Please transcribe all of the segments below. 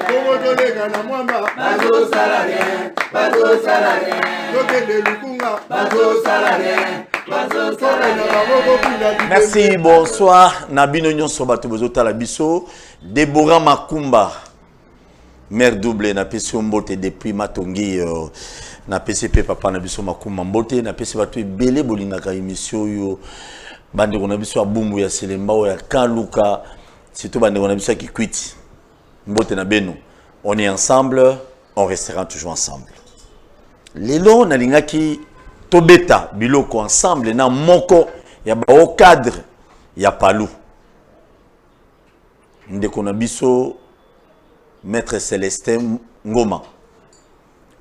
bongo toleka na mwamba bazosala rien bazosala rien tokende lukunga bazosala rien merci bonsoir na bino nyonso bato bozotala biso debora makumba mare double napesi yo mbote depuis matongi euh, napesi mpe papa na biso makumba mbote napesi bato ebele bolingaka émission oyo bandeko na biso ya bumbu ya selembao ya kaluka surtout bandeko na biso ya kikwiti mbote na benu on est ensemble on restera toujours ensemble lelo nalingaki tobeta biloko ensemble na moko ya bao cadre ya palu ndeko na biso maître celestin ngoma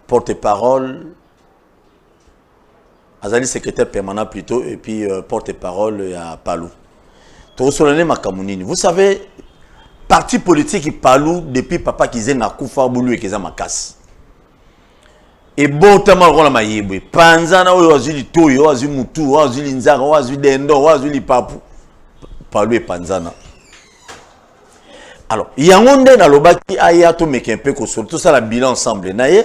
porte parole azali secrétaire permanent plutôt et puis euh, porte-parole ya Palou tokosola nde makambo nini vous savez parti politique Palou depuis papa kizenga kufa bulu ekeza makasi ebotama lokola mayebo epanzana oyo azwi litoyi oyo azwi mutu oyo azwi linzaka oyo azwi dendo oyo azwi lipapu Palou epanzana alors yango nde nalobaki aya tomeka mpe kosolo tosala bilan ensemble na ye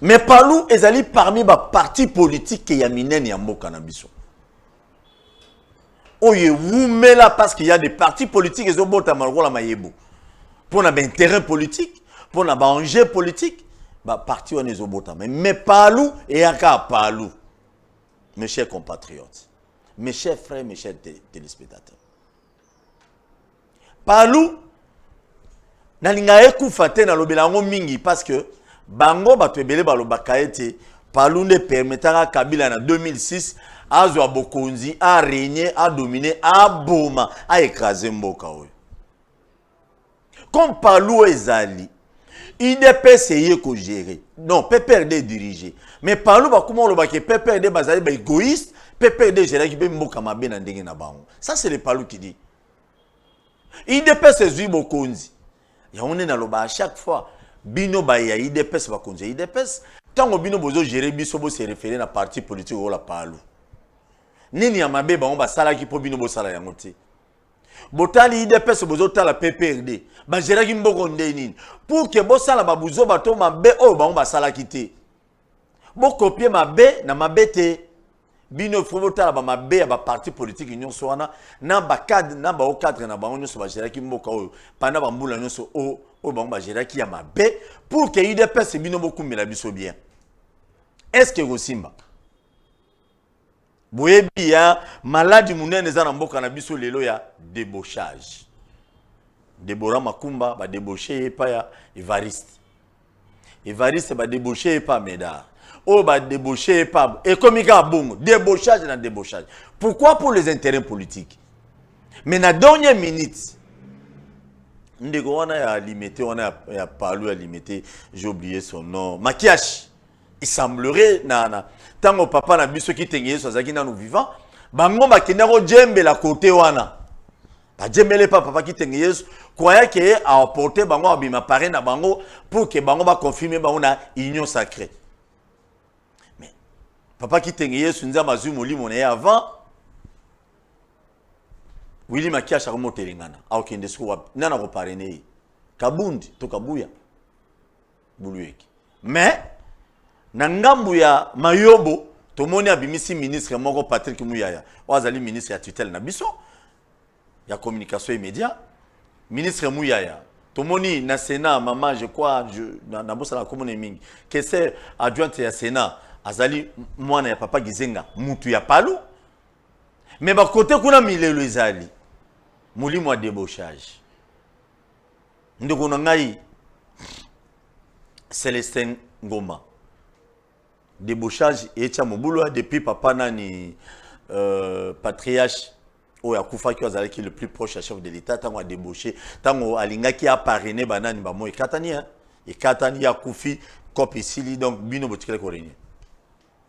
mais palu ezali parmi baparti politike ya minene ya mboka na biso oyo ewumela parce qu'il y a des partis politiques ezobotama lokola mayebo mpo na baintérêt politique mpo na baenjeu politique baparti wana ezobotama mais palu eyaka palu mes chers compatriotes mes chers frères mes chers téléspectateurs palu nalinga ekufa te nalobela yango mingi parce que bango bato ebele balobaka ete palu nde permetaka kabila na 2006 azwa bokonzi aregne adomine aboma aekrase mboka oyo comme palu ezali udps eye kogere non pprd edirige mais palu bakoma olobaki pprd bazali baegoïste pprd ezelaki mpe mboka mabe na ndenge na bango ça c'est le palu qui dit idps ezwi bokonzi yango nde naloba à chaque fois bino baye ya idps bakonzi ya idps ntango bino bozogere biso bose refere na parti politique oyola palu nini ya mabe bango basalaki mpo bino bosala yango te botali idps bozotala pprd bageraki mboko nde nini pour ke bosala babuzoba to mabe oyo bango basalaki te bokopie mabe na mabe te bino ifo botala bamabe ya baparti politiki nyonso wana na bacadre na bao cadre na bango nyonso bageraki mboka oyo panda bambula nyonso oyo oyo bango bageraki ya mabe pour ke udps bino bokumbela biso bien est ce que ekosimba boyebi ya maladi monene eza na mboka na biso lelo ya debochage debora makumba badeboshe ye epai ya evariste evariste badeboshe ye epai ya medar oyo badeboshe ye epai ekomi kaka bongo debochage na debochage pourquoi pour les intérêts politiques mais na dernière minute ndeko wana ya limete wana ya, ya palu ya limete j'ai oublié son nom makiashi Il semblerait na na tango papa na biso kitenge Yesu azalaki nanu vivant, bango bakenda ko djembela kote wana. Ba djembele pa papa kitenge Yesu, croyant que a porter bango abima pare na bango pour que bango ba confirmer bango na union sacrée. Mais papa kitenge Yesu nzambe azui molimo na ye avant Willy Makiasha komo telengana. Aokende siko wapi? Nana ko parrainer ye. Kabundi to Kabuya. buluyeki mais na ngambu ya mayobo tomoni abimisi ministre moko patrick muyaya oyo azali ministre ya tutelle na biso ya communication et média ministre muyaya tomoni na sénat mama je crois nabosana komona ye mingi kese adjointe ya sénat azali mwana ya papa gizenga mutu ya palu me bakote kuna milelo ezali molimo ya debochage ndeko na ngai celestin ngoma debauchage etia mobulu depuis papa nani euh, patriarche oyo akufaki oyo azalaki le plus proche ya chef de l'état ntango adebauche ntango alingaki aparene banani bamo ekatani ekatani ye akufi cope esili donc bino botikali korenye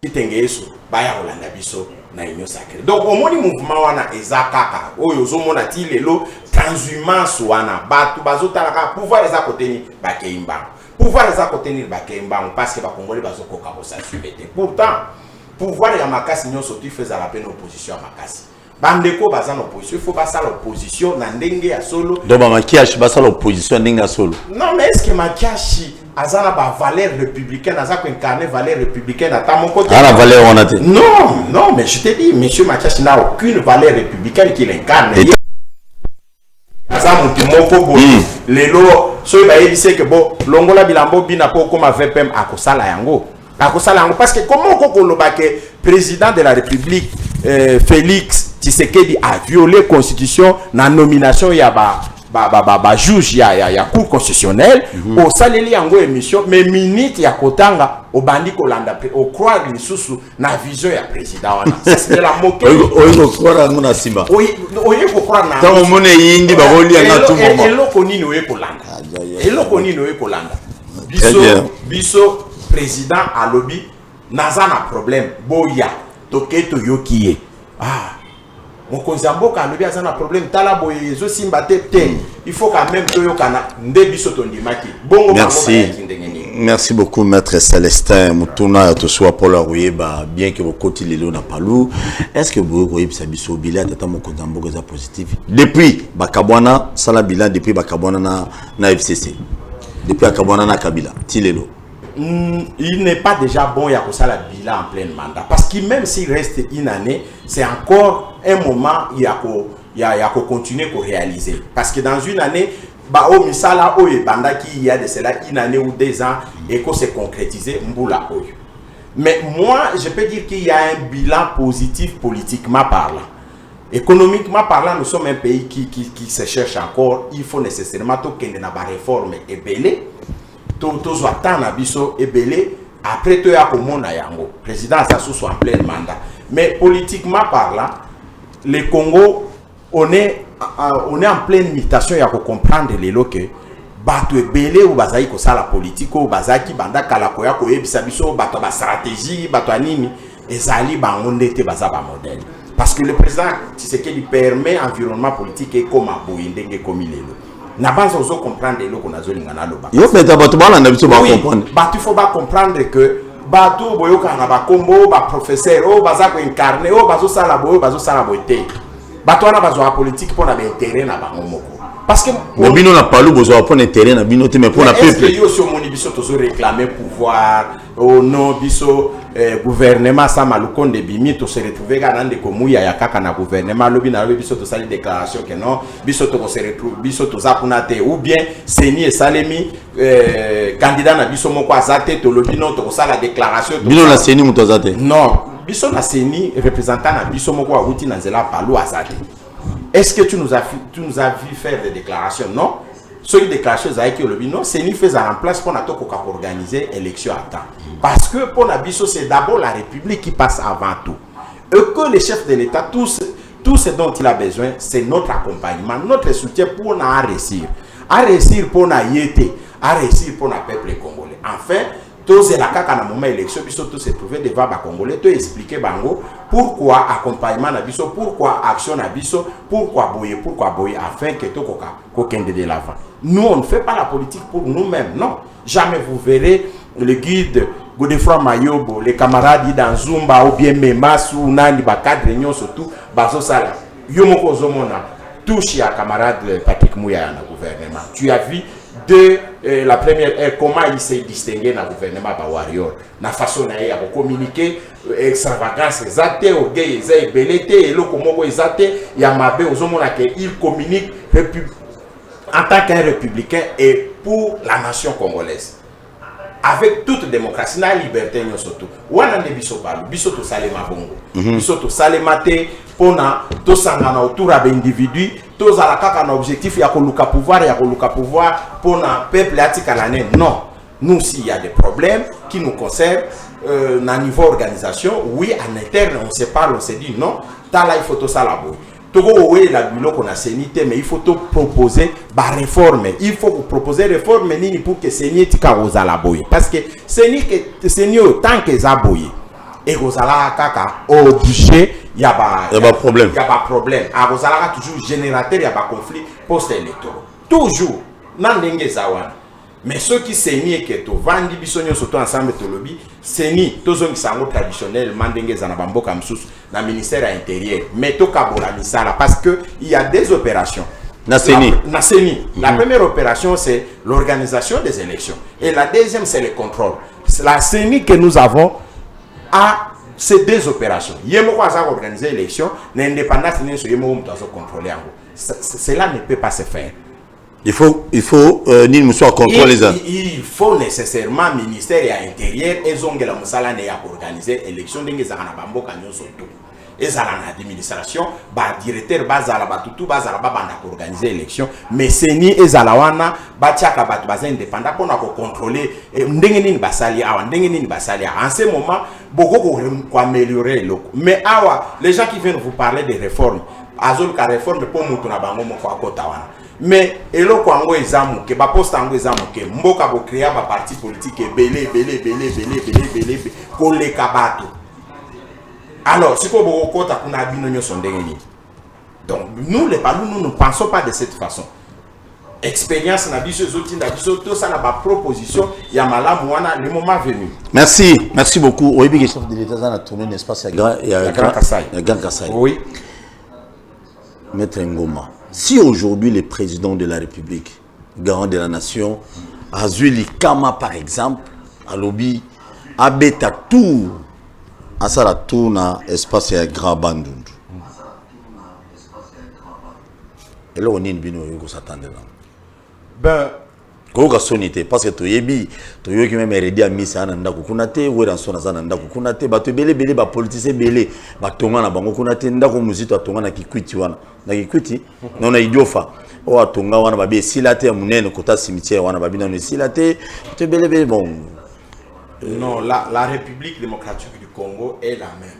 Kitenge Yesu baya kolanda biso na union sacrée. Donc omoni mouvement wana eza kaka oyo ozomona ti lelo transhumance wana bato bazotala kaka pouvoir eza kote nini bakei mbango pouvoir eza kote nini bakei mbango parce que bakongoli bazokoka kosasume te pourtant pouvoir ya makasi nyonso tifo ezala mpe na opposition ya makasi bandeko baza na opposition il faut basala opposition na ndenge ya solo donc bamakiashi basala opposition ya ndenge ya solo non mais est ce que makiashi aza na bavaleur républicaine aza koincarne valeur républicaine ata moko te ana valeur wana te non non mais je te dis monsieur makiashi n'a aucune valeur républicaine qu'il incarne aza mutu moko boye hmm. lelo soki bayebisi eke bo longola bilambo bina mpo okoma vpm akosala yango akosala yango parce que comment oko koloba ke président de la république euh, félix tshisekedi a violé constitution na nomination ya ba ba ba ba, ba juge ya ya, ya cour constitutionnelle mm -hmm. osaleli yango émission mais minute ya kotanga obandi kolanda mpe ocroire lisusu na vision ya président wana sasela moke oyi kokora yango na nsima oye kokora na ntango omoni eyindi bakoli yanga tu moma eloko nini oye kolanda ah, eloko nini oye kolanda biso biso président alobi naza na problème boya toke toyoki ye ah mokonzi ya mboka alobi aza na problème tala boye ezosimba te te hmm. il faut quand même toyokana nde biso tondimaki bongo bangobayaki ndenge nini merci beaucoup maître celestin motuna ya tosuwa mpolo ya koyeba bien ke bokoti lelo na palu est ce que boye koyebisa biso bila tata mokonzi ya mboka eza positif depuis bakabwana sala bilan depuis bakabwana na, na fcc depuis akabwana na kabila ti lelo Hmm, il n'est pas déjà bon ya kosala bilan en pleine mandat parce que même s'il reste une année c'est encore un moment ya ko ya, ya ko continuer ko réaliser parce que dans une année ba o misala oyo ebandaki il y a de cela une année ou deux ans et ko se concrétiser mbula oyo mais moi je peux dire qu'il y a un bilan positif politiquement parlant économiquement parlant nous sommes un pays qui, qui, qui se cherche encore il faut nécessairement tokende na ba réforme ebele to tozwa temps na biso ebele après toya komona yango président aza susu en pleine mandat mais politiquement parlant le congo on est, on est en pleine mutation ya kocomprendre lelo ke bato ebele oyo bazalaki kosala politike oyo bazalaki banda kala koya koyebisa biso bato ya bastratégie bato ya nini Ezali bango nde te baza ba modèle parce que le président Tshisekedi permet environnement politique ekoma boye ndenge ekomi lelo na banza ozo comprendre eloko nazolinga naloba yo peta bato balanda biso bacomprendre bato il faut bacomprendre que bato oyo boyokaka na bakombo oyo baprofesseur oyo baza koincarne oyo bazosala boye oyo bazosala boye te bato wana bazwaka politike mpo na baintere na bango moko parce que mais bino na palu bozwa pona intérêt na bino te mais pona peuple yo si omoni biso tozo réclamer pouvoir Oh non, biso eh, gouvernement sama lukonde bimi to se retrouver kana ndeko muya ya kaka na gouvernement lobi na lobi biso to sali déclaration que non, biso to ko se retrouver biso to za kuna te ou bien seni esalemi eh, candidat na biso moko azate to lobi non to ko sala déclaration to Bino na seni muto azate. Non, biso na seni représentant na biso moko awuti na nzela palu azate. Est-ce que tu nous as tu nous as vu faire des déclarations? Non. soki déclaration ezalaki olobi non ceni mpe ezala en place mpona tokoka koorganiser élection à temps parce que mpona biso c'est d'abord la république qui passe avant tout et que le chef de l'état tous tout ce dont il a besoin c'est notre accompagnement notre soutien mpona aresir aresir mpona ye te aresir mpona peuple congolais enfin Tozela kaka na moment election biso to se trouver devant ba congolais to expliquer bango pourquoi accompagnement na biso, pourquoi action na biso, pourquoi boye, pourquoi boye afin que tokoka kokende de l'avant. Nous on ne fait pas la politique pour nous-mêmes, non. Jamais vous verrez le guide Godefroy Mayobo, les camarades dans Zumba ou bien Memas ou nani ba cadre nyonso tout bazo sala. Yo moko ozomona touche ya camarade Patrick Mouya na gouvernement. Tu as vu de euh, la première heure comment il s'est distingué na gouvernement ba warrior na façon na ye ya kocommunike euh, extravagance eza te orgueil eza ebele te eloko moko eza te ya mabe ozomona ke il communique en tant qu'un républicain et pour la nation congolaise avec toute démocratie na liberté nyoso tu wana nde biso balu biso tosalema bongo mm -hmm. biso tosalema te mpona tosangana autour ya baindividu tozala kaka na objectif ya koluka pouvoir ya koluka pouvoir mpona peuple atikala ne non nous aussi il y a des problèmes qui nous concernent euh, na niveau organisation oui en interne on se parle on se dit non tala il faut tosala boye toko kowelela biloko na seni te mais il faut to proposer ba réforme il faut ko proposer réforme nini pour que seni etika kozala boye parce que seni que seni oyo tant que eza boye ekozala kaka objet ya ba ya ba problème ya ba problème akozalaka toujours générateur ya ba conflit post électoraux toujours na ndenge eza wana mais soki seni eke tovandi biso nyonso to ensemble tolobi seni tozongisa yango traditionnellement ndenge eza na bamboka mosusu na ministère ya intérieur mais tokabola misala parce que il y a des opérations na CENI. La, na CENI. Mm -hmm. La mhm. première opération, c'est l'organisation des élections. Et la deuxième, c'est le contrôle. La CENI que nous avons a ces deux opérations. Yemoko a organisé l'élection, l'indépendance, yemoko a contrôlé. Cela ne peut pas se faire. il faut il faut euh, nini mosusu acontrole eza il faut nécessairement ministère ya intérieur ezongela mosala nde ya koorganize élection ndenge ezalaka na bamboka nyonso tu ezala na administration badirecteur bazala bato tu bazala babanda koorganize élection mais seni ezala wana batiaka bato baza indépendant mpo na kocontrole eh, ndenge nini basali awa ndenge nini basali awa en ce moment bokoki koaméliorer eloko mais awa les gens qui viennent vous parler des réformes azoluka reforme mpo moto na bango moko akota wana mais eloko yango eza moke baposte yango eza moke mboka bokrea baparti politike ebele ebele ebele ebele ebele ebele koleka bato alors sikoyo bokokota kuna bino nyonso ndenge nini donc nous les balu nous ne pensons pas de cette façon experience na biso ezotinda biso tosala ba proposition ya malamu wana le moment venu merci merci beaucoup oyebi ke chef de l'état aza na tourne na espace ya grand ya grand kasai ya grand kasai oui maître ngoma si aujourd'hui le président de la république garant de la nation azui likama par exemple alobi abeta tour asala tour na espace ya grand bandundu eloko nini bino oyoki kosatandela yango ben koyoka soni te parce que toyebi toyoki meme redi ya misa aza na ndako kuna te weranson aza na ndako kuna te bato ebele ebele bapolitise ebele batonga na bango kuna te ndako mozito atonga na kikwiti wana na kikwiti no na idiofa oyo atonga wana babi esila te ya monene kota cimetière wana babi nano esila te bato ebele ebele bon non la, la république démocratique du congo est la même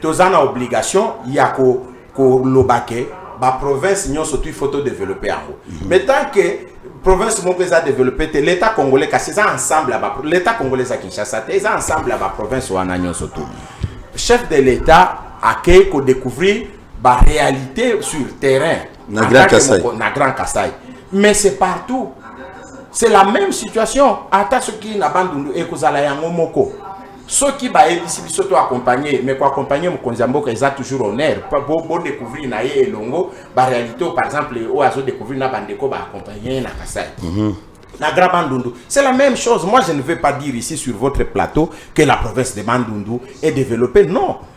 toza na obligation ya koloba ko ke baprovince nyonso tu faut todeveloppe yango mm -hmm. mais tant que province moko eza développé te l'état congolais kasi eza ensemble ya l'état congolais eza kinshasa te eza ensemble ya baprovince wana nyonso tu chef de l'état akei kodécouvrir baréalité sur terrain na grand kasai na grand kasai mais c'est partout c'est la même situation ata soki na bandundu ekozala yango moko soki bayebisi biso to accompagner mais ko accompagner mokonzi ya mboka eza toujours honneur bo, bo découvrir na ye elongo ba réalité par exemple oyo azo découvrir na bandeko ba accompagner na Kasai mm -hmm. na Grand Bandundu. C'est la même chose. Moi, je ne veux pas dire ici sur votre plateau que la province de Bandundu est développée. Non.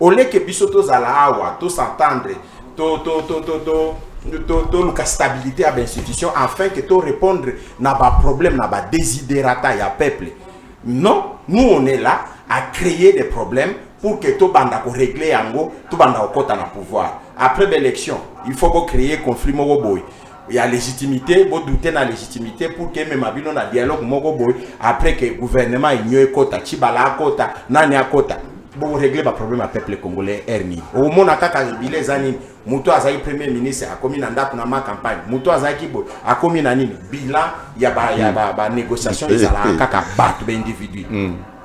au lieu que biso tozala awa to s'entendre to to to to to toluka stabilité ya bainstitution afin que to répondre na baproblème na badesiderata ya peuple non nous on est là à créer des problèmes pour que tobanda korégler yango tobanda kokɔta na pouvoir après baélection il faut bocréer conflit moko boye ya légitimité bo douter na légitimité pour que emema bino na dialogue moko boye après que gouvernement enio ekota cibala akota nani akota bokoregle baproblème ya peuple congolais aire nini okomona kaka ebile eza nini moto azalaki premier ministre akomi na ndako na ma campagne moto azalaki boye akomi na nini bilan ya banégociation ezalaka kaka bato baindividu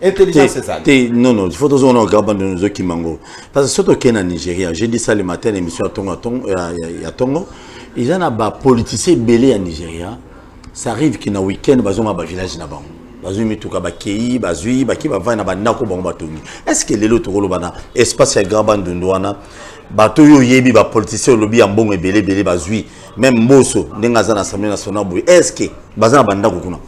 intelligence ezali te non non faut tozo na gaba ndio nzo kimango parce que soto kena Nigeria j'ai dit ça le matin l'émission ya tongo tongo ya tongo ils en a ba politiciens belé ya Nigeria ça arrive que na week-end bazo ma ba village na bango bazwi mituka bakei bazwi baki bavandi na bandako bango batongi est ce que lelo tokoloba na espace ya grand bandundu wana bato oyo oyebi bapolitisien olobi ya mbongo ebele ebele bazwi meme mboso ndenge aza na assemblée nationale boye est ce que baza na bandako kuna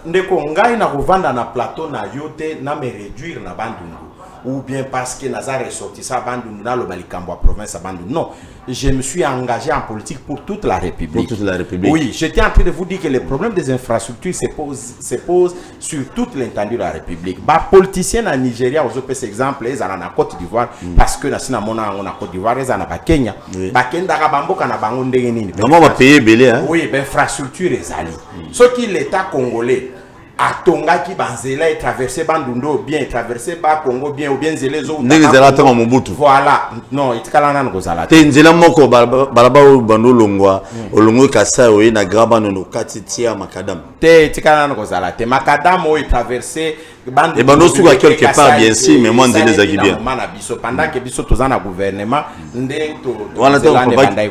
Ndeko ngai na kovanda na plateau na yo te na me réduire na Bandundu ou bien parce que naza ressortissant Bandundu na loba likambo ya province ya Bandundu. Non, je me suis engagé en politique pour toute la République. Pour toute la République. Oui, j'étais en train de vous dire que les problèmes des infrastructures se posent se pose sur toute l'étendue de la République. Ba politiciens na Nigeria aux OPS exemple, ils na Côte d'Ivoire mm. parce que na sina mona na Côte d'Ivoire, ils na ba Kenya. Oui. Ba kenda ka bamboka na bango ndenge nini. Vraiment ba payer belé hein. Oui, ben infrastructure ezali. soki l'etat congolais atongaki banzela etraverse bandundu oyo bien etraverse bakongo bien obien nzela ezondenge ezala ntango mobutu voilà non etikala nano kozala te nzela moko balaba oyo bando olongwa hmm. olongwe kasai oye na grabanono okati tia makadame te etikala nano kozala te makadame oyo etraverse ebanda osuka quelque part bien si mais mwa nzela ezalaki bien mana biso pendant ke biso toza na gouvernement nde wana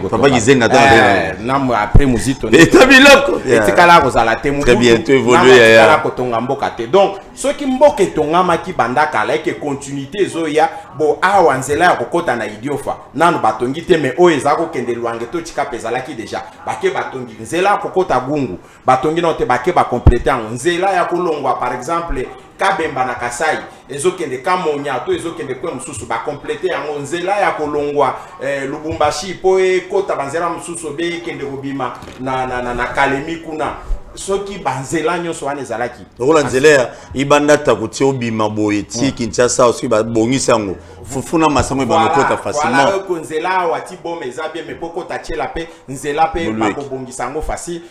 papa kizenga ta eh, na après muzito eta biloko etikala kozala te très bien tu évoluer ya ya kotonga mboka te donc soki mboka etongamaki banda kala eke continuité ezoya bo awa nzela ya kokota na idiofa nanu batongi te mais oyo eza kokende lwange to tshikapa ezalaki deja bake batongi nzela ya kokota gungu batongi nao te bake ba complete yango nzela ya kolongwa par exemple kabemba na kasai ezokende kamonya to ezokende kwe mosusu bakomplete yango nzela ya kolongwa eh, lubumbashi mpo ekota banzela mosusu obe ekende kobima na, na, na, na kalemi kuna soki banzela nyonso wana ezalaki lokola nzela ya ibanda tako ti obima boye ti hmm. kinshasa soki babongisi yango fufu na masango ebanda okota facilement nzela awa ti boma eza bien me mpo kota tiela mpe nzela mpe Boleki. bakobongisa yango facile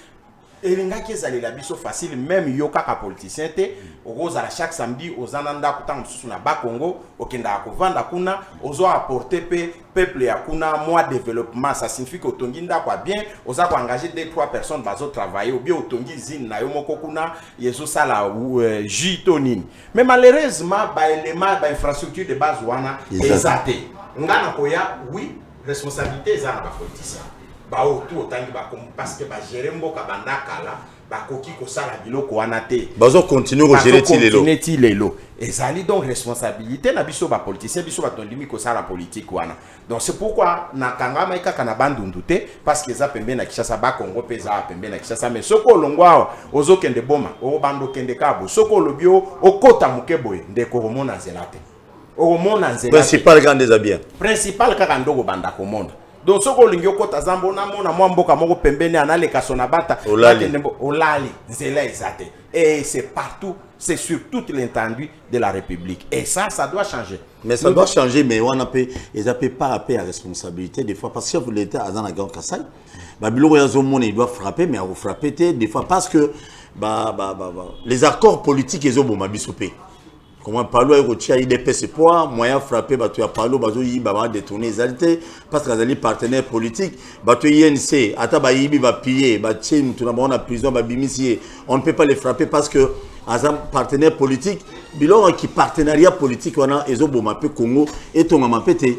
elingaki ezalela biso facile meme yo kaka politicien te okozala chaque samedi oza na ndako ntango mosusu na bakongo okendaka kovanda kuna ozo apporte mpe peuple ya kuna mwa développement ça signifie que otongi ndako ya bien oza koengage de trois personnes bazotravaille obie otongi usine na yo moko kuna ezosala euh, jus to nini mais malheureusement baélément bainfrastructure de base wana Eza te. eza te nga nakoya oui Responsabilite eza na ba politiciens ba oyo tout otangi ba kombo parce que ba gérer mboka banda kala bakoki kosala biloko wana te bazo continuer ko gérer ti lelo continuer ti lelo ezali donc responsabilité na biso ba politiciens biso bato ndimi kosala politique wana donc c'est pourquoi na kangamaki kaka na bandundu te parce que eza pembeni na Kinshasa ba Congo mpe eza pembeni na Kinshasa mais soki olongwa awa ozokende boma okobanda okende kaka boye soki olobi okota moke boye ndeko okomona nzela te okomona nzela principal kaka nde eza bien principal kaka nde okobanda komona donc soki olingi okota zamba onamona mwa mboka moko pembeni analeka sona bata olali nzela eza te et c'est partout c'est sur toute l'étendue de la république et ça ça doit changer mais ça doit changer mais wana mpe eza mpe par rapport ya responsabilité des fois parce que chef de l'état aza na grand kasai babiloko oyo azomona il doit frapper mais akofrappe te des fois parce que ba, ba, ba, ba, les accords politiques ezoboma biso mpe Comment Palu ayo kotia IDPS poa moyen frapper bato ya Palu bazo yiba ba détourner ezali te parce que azali partenaire politique bato INC ata ba yibi ba piller ba tie mutu na bango na prison ba bimisi ye on ne peut pas les frapper parce que aza partenaire politique biloko ki partenariat politique wana ezo boma pe Congo etongama pe te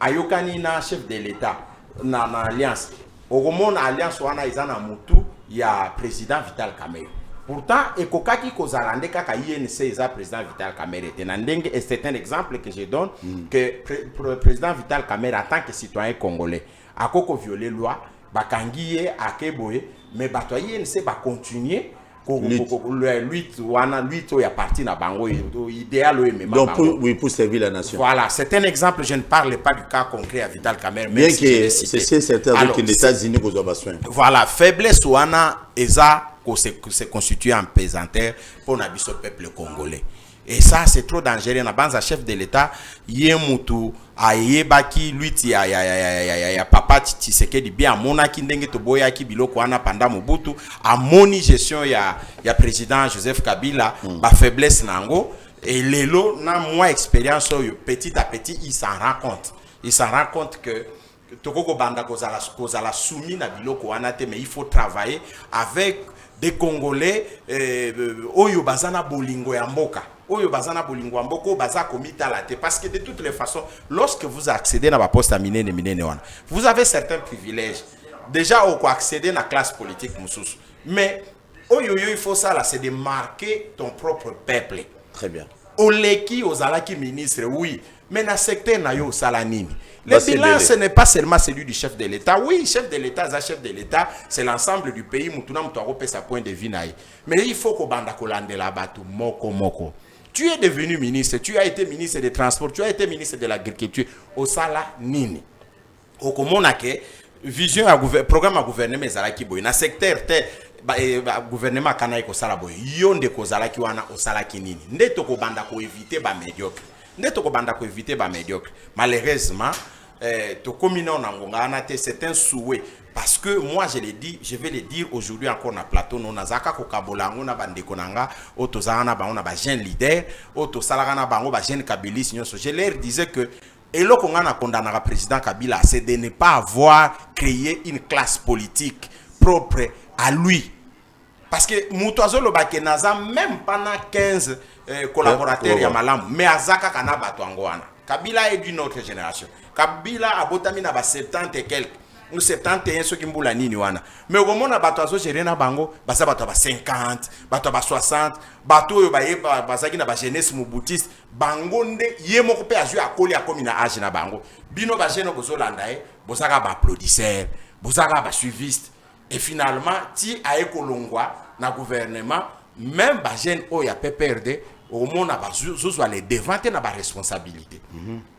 ayokani na chef de l'etat na, na alliance okomona alliance wana eza na mutu ya president vital kamere pourtant ekokaki kozala nde kaka inc eza président vital kamere te na ndenge et c'est un exemple que je donne mm. que pre, pre, président vital kamere en tant que citoyen congolais akoki koviole loi bakangi ye ake boye mais bato ya inc bacontinue lutte wana lutte oyo ya parti na bango idéal oyo emema donc pour, oui, pour servir la nation voilà c'est un exemple je ne parle pas du cas concret ya Vital Kamerhe bien que c'est certain avec les États-Unis kozwa ba soins voilà faiblesse wana eza ko se, se constituer en pesanteur pour na biso peuple congolais Et ça c'est trop dangereux na banza chef de l'etat ye mutu ayebaki lutte ya, ya, ya, ya, ya, ya, ya papa Tshisekedi bien amonaki ndenge toboyaki biloko wana panda Mobutu amoni gestion ya, ya président Joseph Kabila mm. ba faiblesse na yango et lelo na moi expérience oyo petit à petit il s'en rend compte il s'en rend compte que Toko ko banda ko zala ko zala soumis na biloko wana te mais il faut travailler avec des congolais euh, oyo baza na bolingo ya mboka oyo baza na bolingo ya mboka oyo baza komitala te parce que de toutes les façons lorsque vous accédez na baposte ya minene minene wana vous avez certains privilèges déjà oko accéder na classe politique mosusu mais oyo yo il faut sala c'est de marquer ton propre peuple très bien oleki ozalaki ministre oui mais na secteur na yo osala nini le bilan ce n'est pas seulement celui du chef de l'état oui chef de l'état aza chef de l'état c'est l'ensemble du pays mutu na mutu akopesa point de vue na ye mais il faut kobanda kolandela bato moko moko tu es devenu ministre tu as été ministre des transports tu as été ministre de l'agriculture osala nini okomona ke vision ya programme ya gouvernement ezalaki boye na secteur te eh, gouvernement akanaki kosala boye yo nde kozalaki wana osalaki nini nde tokobanda koevite bamédiocre nde tokobanda koevite bamédiocre malheureusement eh, tokomi nao na ngonga wana te c'est un souhait parce que moi je le dis je vais le dire aujourd'hui encore na plateau no nazalaka kokabola yango na bandeko na nga oyo tozalaka na bango na bajeune leader oyo tosalaka na bango bajeune kabilis nyonso je leur disais que Eloko nga na condamnaka president Kabila c'est de ne pas avoir cree une classe politique propre à lui parce que mutu azo loba ke naza meme pas na 15 eh, collaborateurs ya malamu mais aza kaka na bato yango wana Kabila est d'une autre génération Kabila abotami na ba 70 et quelques ou 71 soki mbula nini wana mais okomona bato azo gérer na bango baza bato ya ba 50 bato ya ba 60 bato oyo baye bazalaki na ba jeunesse mobutiste bango nde ye moko pe azui akoli akomi na age na bango bino ba jeune bozolanda ye bozaka ba applaudisseur bozaka ba suiviste et finalement ti aye kolongwa na gouvernement même ba jeune oyo ya PPRD omona bazozwa les devant te na ba responsabilité mm -hmm.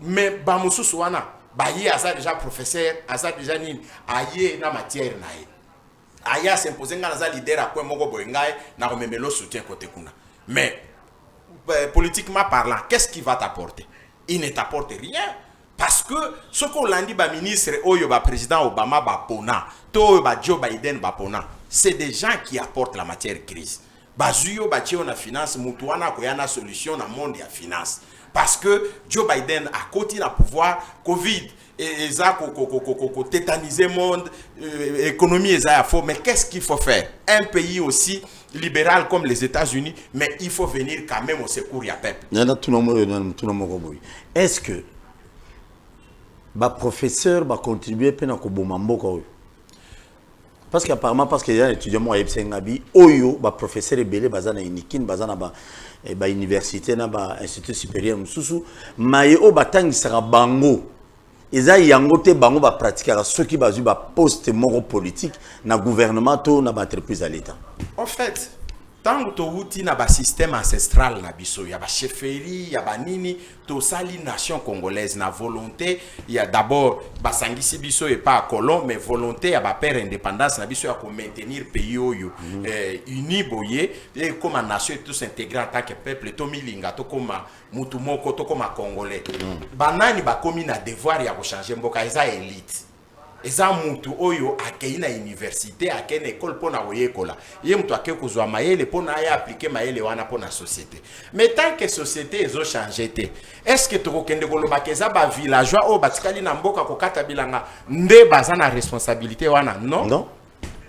mais ba mususu wana baye aza deja professeur aza deja nini aye na matière na ye aye asimpose ngai naza leader ya coin moko boye ngai nakomemelo soutien kote kuna mais euh, politiquement parlant qu'est ce qui va t'apporter il ne t'apporte rien parce que soki olandi baministre oyo baprésident obama bapona to oyo bajoe biden bapona c'est des gens qui apportent la matière crise Bazui yo batie yo na finance mutu wana akoya na solution na monde ya finance parce que Joe Biden akoti na pouvoir Covid et eza ko ko ko ko ko tétaniser monde euh, économie eza ya faux mais qu'est-ce qu'il faut faire un pays aussi libéral comme les États-Unis mais il faut venir quand même au secours ya peuple. Nana tout le monde nana tout le monde boy. Est-ce que ba professeur ba contribuer pe na ko boma mboka oyo Parce que apparemment parce que y a un étudiant moi yebise ngabi oyo ba professeurs ebele baza na unikin baza na ba eh, ba université na ba institut supérieur mususu maye oyo batangisaka bango eza yango te bango ba pratiquaka soki bazwi ba poste moko politique na gouvernement to na ba entreprise ya l'État. En fait, ntango towuti na basystème ancestral na biso ya basheferi ya banini tosali nation congolaise na volonté ya d'abord basangisi biso epa ya colon mais volonté ya bapere indépendance na biso ya komaintenir pays oyo mm -hmm. eh, uni boye ekoma nation et tous intégré en tant que peuple tomilinga tokoma mutu moko tokoma congolais mm -hmm. banani bakomi na devoir ya kochange mboka eza elite Eza mutu oyo akeyi na universite, akeyi na ecole pona koyekola. Ye mutu akeyi kozua mayele pona aya appliquer mayele wana pona societe. Mais tant que societe ezo changer te, est ce que toko kende koloba que eza ba villageois oyo batikali na mboka kokata bilanga nde baza na responsabilite wana? Non. Non.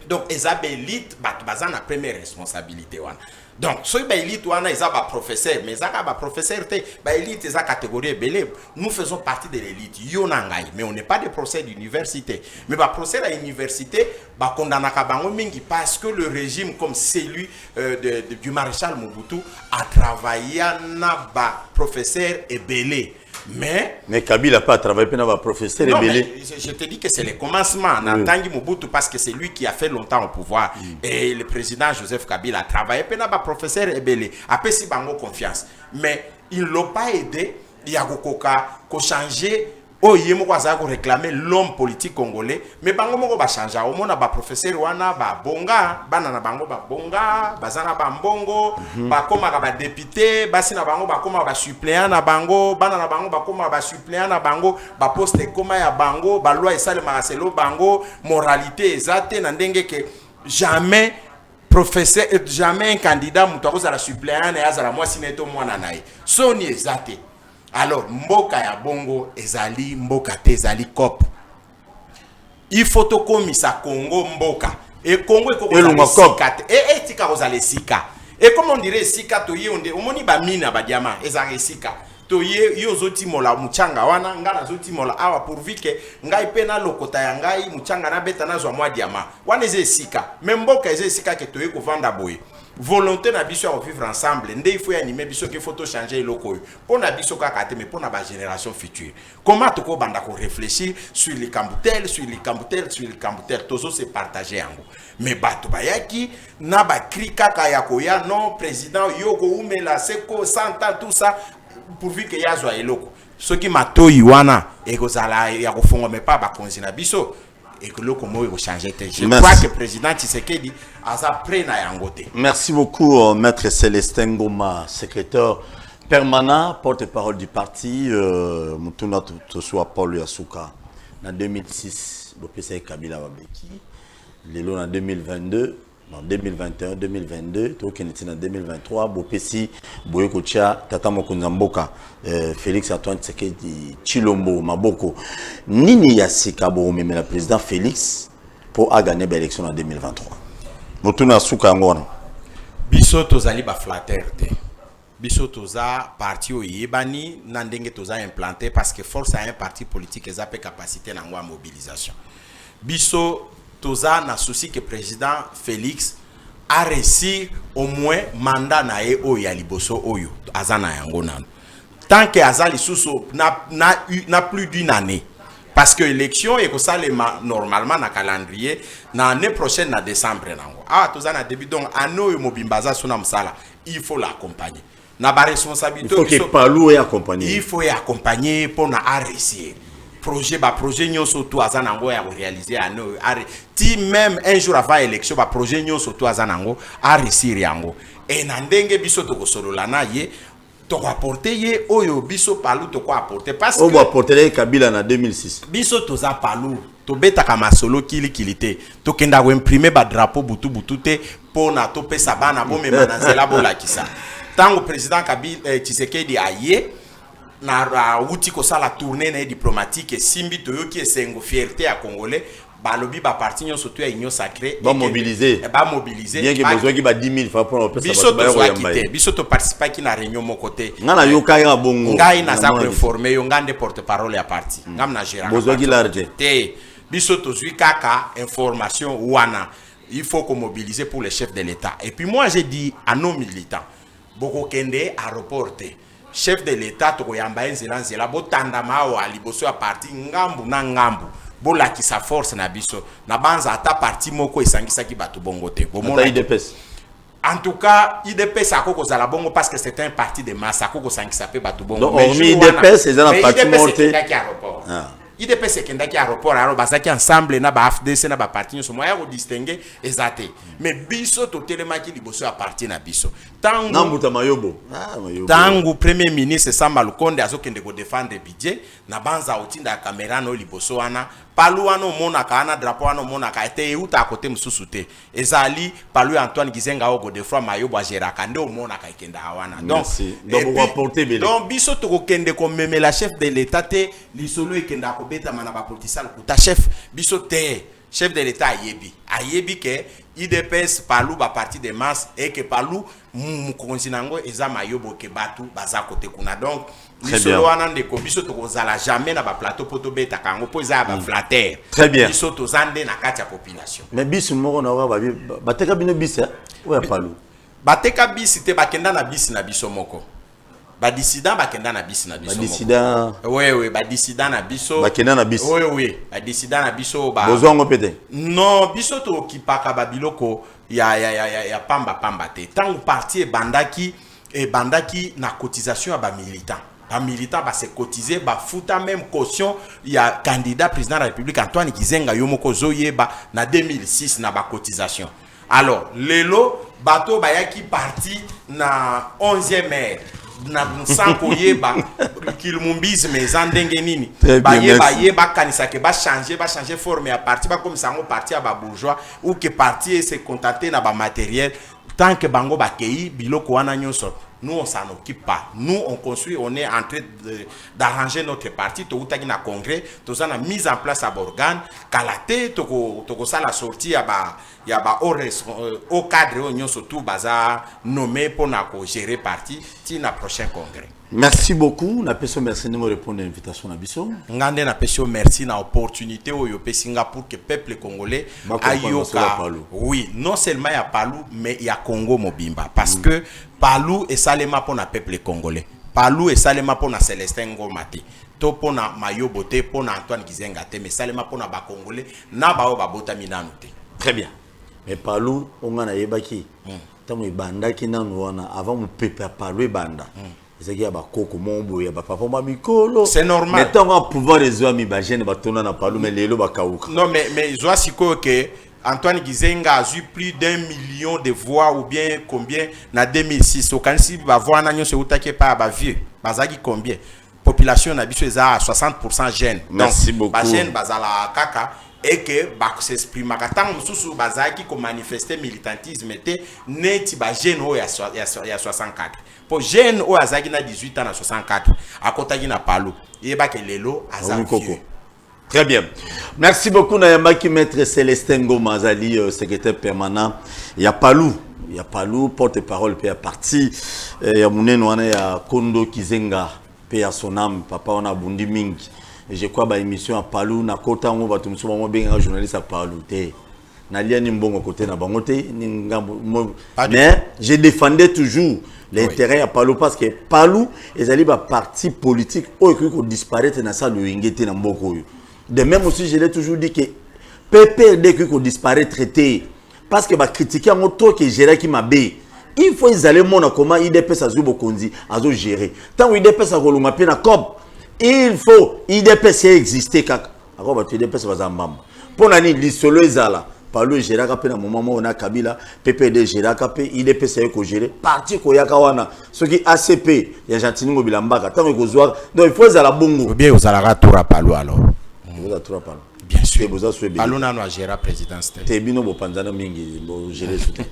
donc eza ba elite bato baza na première responsabilité wana donc soki ba elite wana eza ba professeur mais eza kaka ba professeur te ba elite eza catégorie ebele nous faisons partie de l'élite yo na ngai mais on n'est pas des professeurs d'université mais ba professeur ya université bakondanaka bango mingi parce que le régime comme celui euh, de, de, du maréchal mobutu a travailla na ba professeur ebele Mais, mais Kabila pas travaillé pendant va professeur non, mais je te dis que c'est le commencement en oui. Tangi Mobutu parce que c'est lui qui a fait longtemps au pouvoir mm. et le président Joseph Kabila a travaillé pendant va professeur Ebele a payé si bango confiance mais ils l'ont pas aidé il y a kokoka ko changer oyo ye moko azalaki koreklame l'homme politique congolais Mais bango moko ba changea omona ba professeur wana ba bonga bana na bango ba bonga baza na ba mbongo mm -hmm. bakomaka ba député basi na bango bakoma ba suppléant na bango bana na bango bakoma ba suppléant na bango ba poste ekoma ya bango ba loi esalemaka selo bango moralité eza te na ndenge ke jamais professeur euh, jamais un candidat moto akozala suppléant na ye azala mwasi na ye to mwana na ye soni eza te alors mboka ya bongo ezali mboka te ezali cope Il faut tokomisa Congo mboka. Et Congo eko kozala esika te. Eh eh tika kozala esika. Et comme on dirait esika toye onde omoni ba mina ba diamant ezalaka esika. Toye yo ozotimola muchanga wana ngai nazotimola awa pourvu que ngai mpe nalokota ya ngai muchanga nabeta nazwa mwa diamant. Wana eza esika. Mais mboka eza esika ke toye kovanda boye. volonté na biso ya kovivre ensemble nde il faut yanime biso ke faut tochanger eloko oyo mpo na biso kaka te mais mpo na bagénération future Comment toko banda ko réfléchir sur likambo tel, sur likambo tel, sur likambo tel, tozo se partager yango. Mais bato bayaki na ba cri kaka ya koya non président yoko umela seko santa tout ça pourvu que yazwa eloko. Soki matoyi wana ekozala ya kofongo mais pas bakonzi na biso ekoloko moko ekochange te je Merci. crois que président tshisekedi aza près na yango te Merci beaucoup, euh, Maître Célestin Ngoma, secrétaire permanent, porte-parole du parti, euh, Mutuna Tosua Paul Yasuka. En 2006, Bopesa Kabila Babeki. Lelo en 2022, na 2021 2022 tokende ti na 2023 bopesi boye kotya tata mokonzi ya mboka euh, félix antoine tshisekedi tshilombo maboko nini ya sika bokomemela président félix mpo agane baélection na 2023 motuna ya suka yango wana biso tozali baflatere te Biso toza parti oyo eyebani na ndenge toza implante parce que force ya un parti politique eza pe capacite na yango ya mobilisation. Biso toza na souci que president Felix a reussir au moins mandat na ye oyo ya liboso oyo aza na yango nanu. Tant que aza lisusu na, na, na plus d'une année parce que élection ekosalema normalement na calendrier na année prochaine na décembre nango awa ah, toza na début donc année oyo mobimba aza suna mosala il faut la accompagner na ba responsabilité il faut que palu et accompagner il faut accompagner pour na réussir projet ba projet nyonso tout aza nango ya réaliser ano ti même un jour avant élection ba projet nyonso tout aza nango a réussir yango et na ndenge biso to kosolola na ye toko apporter ye oyo biso palu toko apporter parce que obo apporter kabila na 2006 biso toza palu Tobetaka masolo kili kili te. Tokendaka ko imprimer ba drapeaux butu butu te mpo na topesa bana bomema na nzela bolakisa. Tango President Kabila, eh, Tshisekedi aye na awuti kosala tournee na ye diplomatique esimbi, toyoki esengo, fierte ya Congolais balobi ba parti nyonso to ya union sacree Ba mobiliser. ba mobiliser Bien que ba- bozwaki ba 10 000 francs mpo na kopesa biso bato baya tozwaki koyamba te ye. biso toparticipaki na réunion moko te Nga nayokaki kaka bongo. ngai naza Namona koinforme yo ngai nde porte parole ya parti ngam na geraka bozwaki lare te te biso tozwi kaka information wana il faut qu'on mobilise pour les chefs de l'État. Et puis moi, j'ai dit à nos militants, Bokokende à reporter. Chef de l'État, Tokoyamba Nzela Nzela, Botanda Mao, Aliboso à parti, Ngambu na Ngambu. bolakisa force na biso na banza ata parti moko esangisaki bato bongo te bomona En tout cas, IDPS a koko zala bongo parce que c'est un parti de masse, a koko sankisa pe batu bongo. Non, mais IDPS c'est un parti monté. Ah. IDPS ekendaki aéroport alors bazaki ensemble na ba AFDC na ba parti nyonso moya ko distinguer eza te mais biso totelemaki liboso ya parti na biso tango na mbuta mayobo ah, tango premier ministre Samba Lukonde azokende ko défendre budget na banza otinda ya camera no liboso wana palu wana omonaka wana drapeau wana omonaka ete euta kote mosusu te Eza Ali palu ya Antoine Gizenga oyo Godefroid Mayobo ageraka nde omonaka ekendaka wana donc donc biso tokokende komemela chef de l'etat te lisolo ekendaka kobetama na bapolitisi ya lokuta chef biso te chef de l'etat ayebi ayebi ke idps palu baparti de masse eke palu mokonzi na yango eza mayobo ke bato baza kote kuna donc lisolo wana ndeko biso tokozala jamais na baplateau mpo tobetaka yango mpo eza ya baflatere mm. biso toza nde na kati ya population mais bisi moko naoka bateka bino bisi eh? oyo ya palu bateka bisi te bakenda na bisi na biso moko badissident bakenda na bisi na biso wewe badissident na biso bakenda na biso wewe badissident na biso bozwa yango mpe te non biso tokipaka babiloko ya, ya, ya, ya, ya pamba pamba te ntango parti ebandaki Ebandaki na cotisation ya ba militants. Ba militants ba se cotiser, ba futa meme caution ya candidat president ya la Republique Antoine Gizenga, yo moko ozo yeba, na 2006 na ba cotisations. Alors, lelo bato oyo bayaki parti na 11e heure, na sans koyeba kilumumbisme eza ndenge nini, baye baye ba kanisa que ba changer, ba changer forme ya parti, ba komisa yango parti ya ba bourgeois ou que parti e se contenter na ba materiels Tant que bango bakeyi biloko wana nyoso nous on s'en occupe pas nous on construit on est en train d'arranger notre parti towutaki na congrès toza na mise en place ya borgane kala te toko tokosala sortie ya ba ya ba au euh, cadre oyo nyonso tout baza nommé pona ko gérer parti ti na prochain congrès Merci beaucoup na peso merci ndenge répondre invitation na biso. Nga nde na peso merci na opportunité oyo pesi nga pour que peuple congolais ayoka oui non seulement ya Palu mais ya Congo mobimba parce mm. que Palu esalema pona peuple congolais. Palu esalema pona Celestin Ngoma te to pona Mayobo te pona Antoine Gizenga te mais esalema pona ba congolais na baoyo babotami nanu te. Très bien. Mais Palu onga na yebaki. Mm. tango ebandaki nanu wana avant mupepe ya palu ebanda ezalaki ya bakoko moko boye ya bapapa mwa mikolo C'est normal. mais ntango ya pouvoir ezwami bagene batona na palu mais lelo bakauka Non, mais, mais zwa sikoyo que Antoine Gizenga a eu plus d'un million de voix ou bien combien na 2006. Okanisi ba voix na nyonso eutaki epai ya ba vieux. Bazaki combien? population na biso eza 60 pourcent jeune donc ba jeune bazala kaka et que bakosexprimaka ntango mosusu bazalaki komanifeste militantisme te neti bajeune oyo ya 64 mpo jeune oyo azalaki na 18 ans na 64 akotaki na palu eyebaki lelo aza vieux Très bien. Merci beaucoup Nayamaki Maître Célestin Ngoma Azali euh, secrétaire permanent ya Palou ya Palou porte-parole pe ya parti euh, ya munene wana ya Kondo Kizenga pe ya son âme papa wana abundi mingi je crois ba émission ya Palou na kota ngo bato mosusu bango bengaka journaliste ya Palou te nalia ni mbongo kote na bango te ni ngambo mais je défendais toujours l'intérêt oui. ya palu parce que palu ezali baparti politique oyo ekoki kodisparaître na sa loyenge te na mboka oyo de même aussi je l'ai toujours dit que pprd ekoki kodisparaître te parce que bakritike yango trop ke geraki mabe il faut ezali emona comment idps azwi bokonzi azogere ntango idps akolonga mpe na cob il faut idps ya existe kaka Ako batu UDPS baza mbamba. Pona ni lisolo ezala Palu egeraka pe na moment moko na Kabila, PPD egeraka pe UDPS aye ko gérer parti ko yaka wana soki ACP ya Gentini Ngobila Mbaka tango ekozwa donc il faut ezala bongo. Bien ozalaka tura Palu alors. Oza tura Palu. Bien sûr. Boza swe Palu nanu a gérer présidence te. Te bino bo panzana mingi bo gérer soute.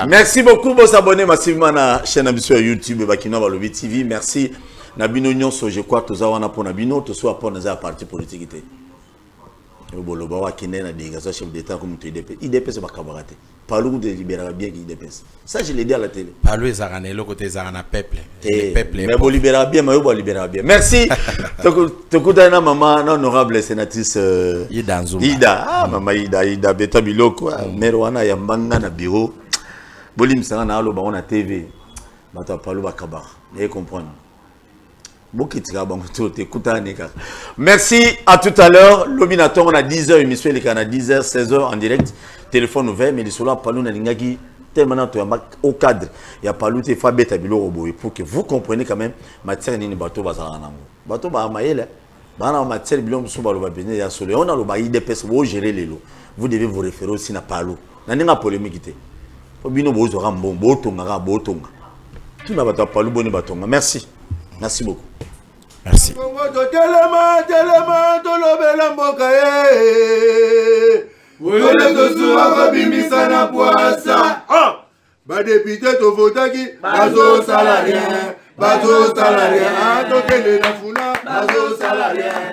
Merci beaucoup bo s'abonner massivement na chaîne na biso ya YouTube Bakinois Balobi TV. Merci. Na bino nionso je crois toza wana pona bino tosuwa mpo naza ya parti politique te oyo boloba oyo akendaki na denge aza chef d'état ko moto idps idps bakabaka te palu kutu eliberaka bien ki idps ça je le dis à la télé palu ezalaka na eloko te ezalaka na peuple te peuple mais boliberaka bien mayo boliberaka bien merci tokutani na mama na honorable sénatrice euh, ida nzuma ida ah mm. mama ida ida beta biloko ah, mm. maire wana yambanga na bureau bolimbisanga na aloba ngo na tv bato ya palo bakabaka naye comprendre bokitika bango to te kutani kaka merci à tout à l'heure lobi na ntongo na 10 heures émission elekaka na 10 heures 16 heures en direct téléphone ouvert mais lisolo ya palo nalingaki tellement na toyamba au cadre ya palo te fo abeta biloko boye pour que vous comprenez quand même matière nini bato bazalaka nango bato baa mayele bana ba matière biloko mosusu baloba mpenza ya solo yango naloba idps boogere lelo vous devez vous référer aussi na palo na ndenge ya polémique te mpo bino bozwaka mbongo botonga kaka botonga tuna bato ya palu boni batonga merci merci beaucoup merci kongo totelema telema tolobela mboka ye wele tosuwa kobimisa na pwasa ah! badepute tovotaki bazosala rien bazosala rien tokende na funa bazosala rien